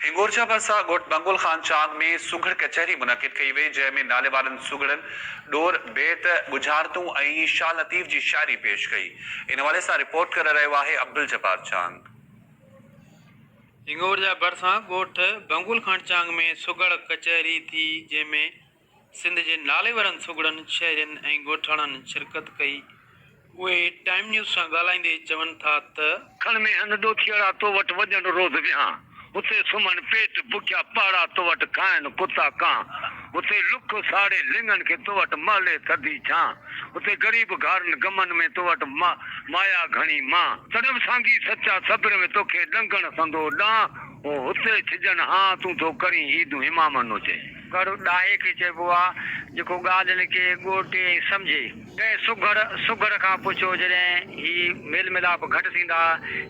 هنگورجا ڀرسان ڳوٺ بنگل خان چاند ۾ سگهڙ ڪچهري منعقد ڪئي وئي، جنهن ۾ ناليوارن سگهڙن ڏور بيت، ڳجهارتون ۽ شاهه لطيف جي شاعري پيش ڪئي. ان حوالي سان رپورٽ ڪري رهيو آهي عبدالجبار چانگ. هنگورجا ڀرسان ڳوٺ بنگل خان چانگ ۾ سگهڙ ڪچهري ٿي، جنهن ۾ سنڌ جي ناليورن سگهڙن شهرين ۽ ڳوٺاڻن شرڪت ڪئي، اهي ٽائيم نيوز سان ڳالهائيندي چون ٿا ته. کڻ مين هن ڏوٿيئڙا تو وٽ وڄڻ روز ويهان اتي سمهن پيٽ بکيا پاڙا تو وٽ کائن ڪتا ڪان اتي لڪ ساڙي لڱن کي تو وٽ مهلي ٿڌي ڇان اتي غريب گهارن غمن ۾ تو وٽ مايا گهڻي مان تڏهن به سانگي سچا صبر ۾ توکي ڏنگڻ سندو ڏان هو اتي ڇڄن هان تون ٿو ڪرين عيدون امامن اتي. گهرو ڏاهي کي چئبو آ، جيڪو ڳالهين کي ڳوٽي ۽ سمجهي. ڪنهن سگهڙ سگهڙ کان پڇو، جڏهن هي ميل ميلاپ گهٽ ٿيندا،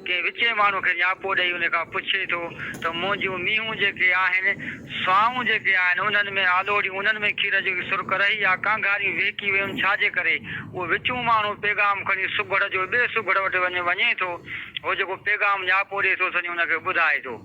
ڪنهن وچين ماڻهو کي نياپو ڏئي ان کان پڇي ٿو ته منهنجون مينهون جيڪي آهن، سوانهون جيڪي آهن، انهن ۾ آلوڙيون، انهن ۾ کير جي سرڪ رهي يا ڪانگهاريون وهڪي ويون، ڇا جي ڪري اهو وچون ماڻهو پيغام کڻي سگهڙ جو ٻئي سگهڙ وٽ وڃي وڃي ٿو، هو جيڪو پيغام نياپو ڏئي ٿو سڃي ان کي ٻڌائي ٿو.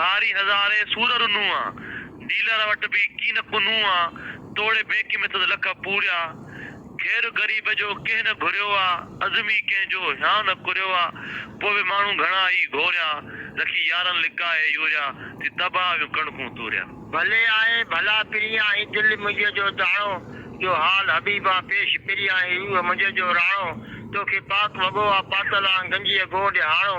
هاري هزارين سور رنوئا، ڊيلر وٽ به ڪين ڪو نوئا، توڙي بينڪ ۾ سد لک پوريا، خير غريب جو ڪنهن نه گهريوئا، عزم ئي ڪنهن جو هيان نه ڪريوئا، پوء به ماڻهو گهڻا ئي گهوريا، رکي يارن لڪائي يوريا، ٿي تباهه ويون ڪڻڪون توريا. ڀلي آهي ڀلا پريان هي دل منهنجي جو داڻو، جو حال حبيبان پيش پريان هي روح منهنجي جو راڻو، توکي پاڪ وڳو آ پاتل آن گنجيء گهون ڏهاڻو،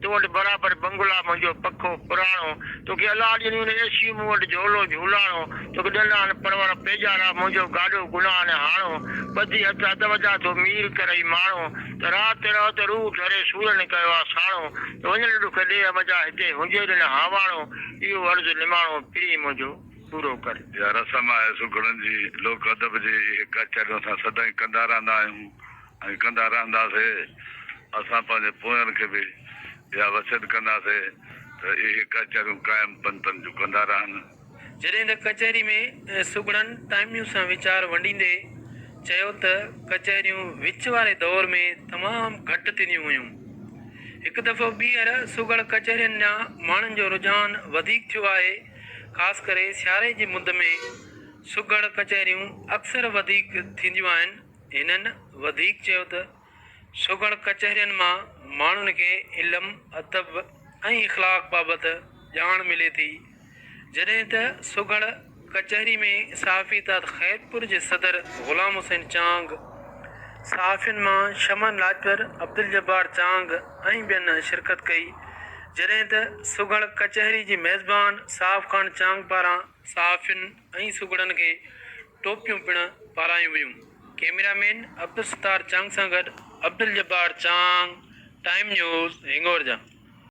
تو وٽ برابر بنگلا منهنجو پکو پراڻو توکي الله ڏني ان عيشي مون وٽ جهولو جهولاڻو توکي ڏنان پرور پيڄارا منهنجو گاڏو گناهه نه هاڻو ٻڌي هٿ اڌ وڌا ٿو مير ڪرئي ماڻو ته رات رهه ته روح ڍري سور نه ڪيو آ ساڻو ته وڃڻ ڏک ڏيهه منجا هتي هنجي ڏن هاواڻو اهو عرض نماڻو پرين منهنجو پورو ڪر. اها رسم آهي سگهڙن جي لوڪ ادب جي اهي ڪچهريون اسان سدائين ڪندا رهندا آهيون. ائين ڪندا رهنداسي. اسان پنهنجي پوين کي به اها وصيت ڪنداسي ته اهي ڪچهريون قائم پنتن جون ڪندا رهن. جڏهن ته ڪچهري ۾ سگهڙن ٽائميون سان ويچار ونڊيندي چيو ته ڪچهريون وچ واري دور ۾ تمام گهٽ ٿينديون هيون. هڪ دفعو ٻيهر سگهڙ ڪچهرين ڏانهن ماڻهن جو رجحان وڌيڪ ٿيو آهي. خاص ڪري سياري جي مد ۾ سگهڙ ڪچهريون اڪثر وڌيڪ ٿينديون آهن. هنن وڌيڪ چيو ته سگهڙ ڪچهرين مان ماڻهن کي علم، ادب ۽ اخلاق بابت ڄاڻ ملي ٿي، جڏهن ته سگهڙ ڪچهري ۾ صحافي اتحاد خيرپور جي صدر غلام حسين چانگ، صحافين مان شمن لاجپر، عبدالجبار چانگ ۽ ٻين شرڪت ڪئي، جڏهن ته سگهڙ ڪچهري جي ميزبان صاحب خان چانگ پاران صحافين ۽ سگهڙن کي ٽوپيون پڻ پارايون ويون. ڪيميرا مين عبدالستار چانگ سان گڏ عبدالجبار چانگ، ٽائيم نيوز، هنگور جا.